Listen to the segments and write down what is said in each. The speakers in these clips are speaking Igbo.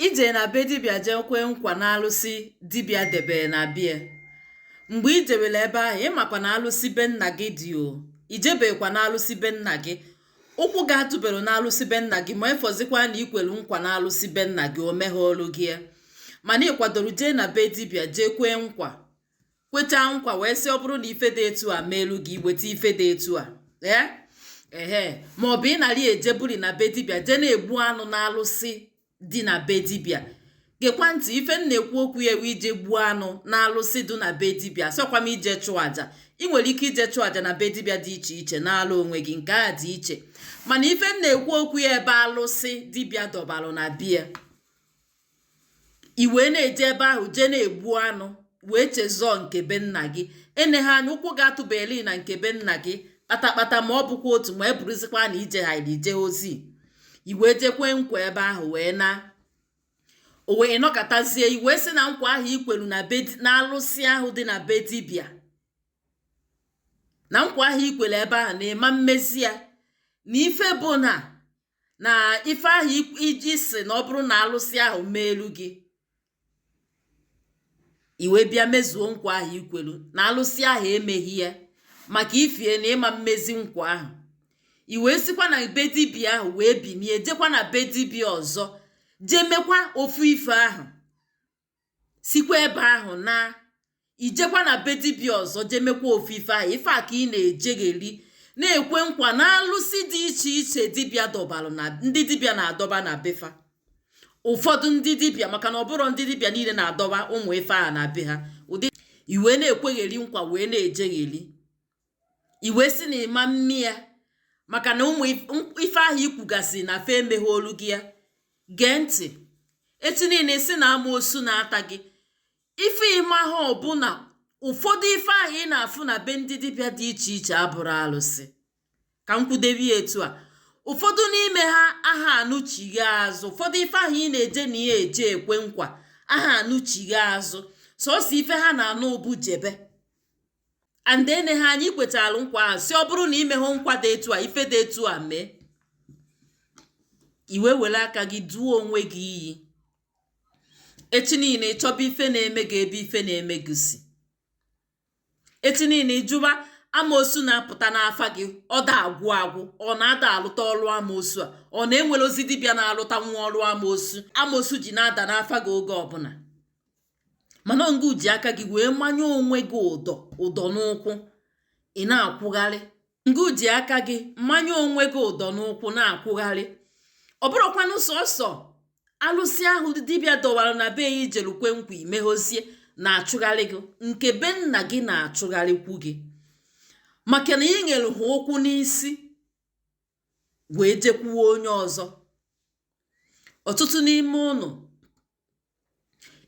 i je na be dibịa jee kwee nkwa na alụsị dibịa debere na bie mgbe i jewere ebe ahụ ị makwa na alụsị be nna gị dị o i jebekwa na alụsị be nna gị ụkwụ gị atụbero na alụsị be nna gị ma efọzikwa na i kwelu nkwa na alụsị be nna gị o meghoolu gị ya mana ị kwadoro jee na be dibịa jee kwee nkwa kwechaa nkwa wee sị ọ bụrụ na ife dị etu a meelu gị i weta ife dị etu a ee ehe ma ọ bụ ị narị ejebuli na be dibịa jee na-egbu anụ na alụsị dị na be dibịa gekwa ntị ife m na-ekwu okwu ya ebe i je gbuo anụ na alụsị dị na be dibịa asịkwa m ije chụọ aja ị nwere ike ije chụọ aja na be dibịa dị iche iche nala onwe gị nke a dị iche mana ife m na-ekwu okwu ya ebe alụsị dibịa dọbalụ na bie i wee na-eje ebe ahụ jee na-egbu anụ wee chezọọ nke be nna gị eneha anya ụkwụ gị atụbeli na nke be nna gị kpatakpata ma ọ bụkwa otu ma ọ bụrụzikwa na i jeha ije ozi i wee je kwe nkwa ebe ahụ wee naa o wee nọkatazie i wee sị na nkwa ahụ i kwelu na be na alụsị ahụ dị na be dibịa na nkwa ahụ i kwelu ebe ahụ na ị ma mmezi ya na ife bụ na na ife ahụ i ji sị na ọ bụrụ na alụsị ahụ meelu gị i wee bịa mezuo nkwa ahụ i kwelu na alụsị ahụ emeghị ya maka ifie na ị ma mmezi nkwa ahụ i wee sikwa na be dibịa ahụ wee binie jekwa na be dibịa ọzọ jee mekwa ofu ife ahụ sikwa ebe ahụ naa i jekwa na be dibịa ọzọ jee mekwa ofu ife ahụ ife a ka ị na-ejegheri na-ekwe nkwa na alụsị dị iche iche dibịa dọbalụ na ndị dibịa na-adọba na be fa ụfọdụ ndị dibịa maka na ọ bụrọ ndị dibịa niile na-adọba ụmụ ife a na be ha ụdị i wee na-ekwegheri nkwa wee na-ejegheri i wee sị na ị ma mme ya maka na ụmụ ife ahụ i kwugasị na fa emeghoolu gị ya gee ntị echi niile sị na amaosu na-ata gị ife ị maha bụ na ụfọdụ ife ahụ ị na-afụ na be ndị dibịa dị iche iche abụrọ alụsị ka m kwudebi etu a ụfọdụ n'ime ha aha anụ chighaa azụ ụfọdụ ife ahụ ị na-eje na ya eje ekwe nkwa aha anụ chighaa azụ sọsọ ife ha na-anụ bụ jebe and eneha anya i kwetalụ nkwa ahụ sị ọ bụrụ na i meha nkwa dị etu a ife dị etu a mee i wee were aka gị duo onwe gị iyi echi niile ị chọba ife na-eme gị ebe ife na-eme gị si echi niile ị jụba amaosu na-apụta n'afa gị ọ da agwụ agwụ ọrọ na a da alụta ọrụ amaosu a ọrọ na e nwero ezi dibịa na-alụtanwu ọrụ amaosu amaosu ji na-ada n'afa gị oge ọbụna mana ọ ngụ ji aka gị wee manye onwe gị ụdọ n'ụkwụ ị na-akwụgharị ngụ ji aka gị manye onwe gị ụdọ n'ụkwụ na-akwụgharị ọ bụrụkwanụ sọsọ alụsị ahụ dibịa dọwara na be ya i jelu kwe nkwa i meghozie na-achụgharị gị nke be nna gị na-achụgharịkwu gị maka na i nyere ha ụkwụ n'isi wee jekwuo onye ọzọ ọtụtụ n'ime ụnụ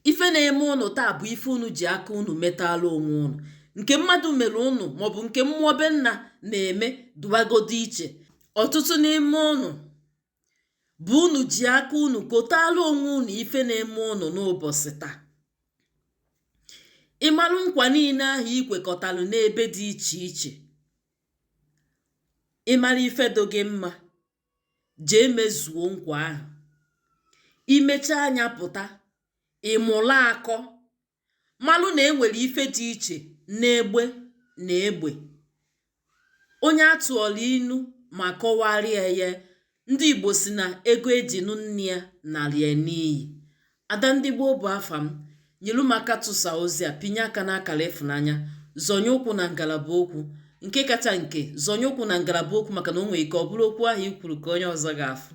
ife na-eme ụnụ taa bụ ife ụnụ ji aka ụnụ metaalụ onwe ụnụ nke mmadụ mere ụnụ maọbụ nke mmụọ be nna na-eme dụwagodu iche ọtụtụ n'ime ụnụ bụ ụnụ ji aka ụnụ kotaalụ onwe ụnụ ife na-eme ụnụ n'ụbọchị taa ị malụ nkwa niile ahụ i kwekọtalụ n'ebe dị iche iche ị mara ife dị gị mma jee mezuo nkwa ahụ i mechaa nya pụta ị mụlụ akọ malụ na e nwere ife dị iche n'egbe na egbe onye a tụọlụ inu ma kọwarịa ya ndị igbo sị na ego e ji nụ nne ya nara ya n'iyi Ada ndị gboo bụ afa m. Nyelu m aka tụsa ozi a, pịnye aka n'akara ịfụnanya, zọnye ụkwụ na ngalaba okwu. Nke kacha nke, zọnye ụkwụ na ngalaba okwu maka na o nwere ike ọ bụrụ okwu ahụ i kwuru ka onye ọzọ ga-afụ.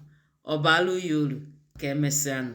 Ọ baalụ ya uru. Ka emesịanụ.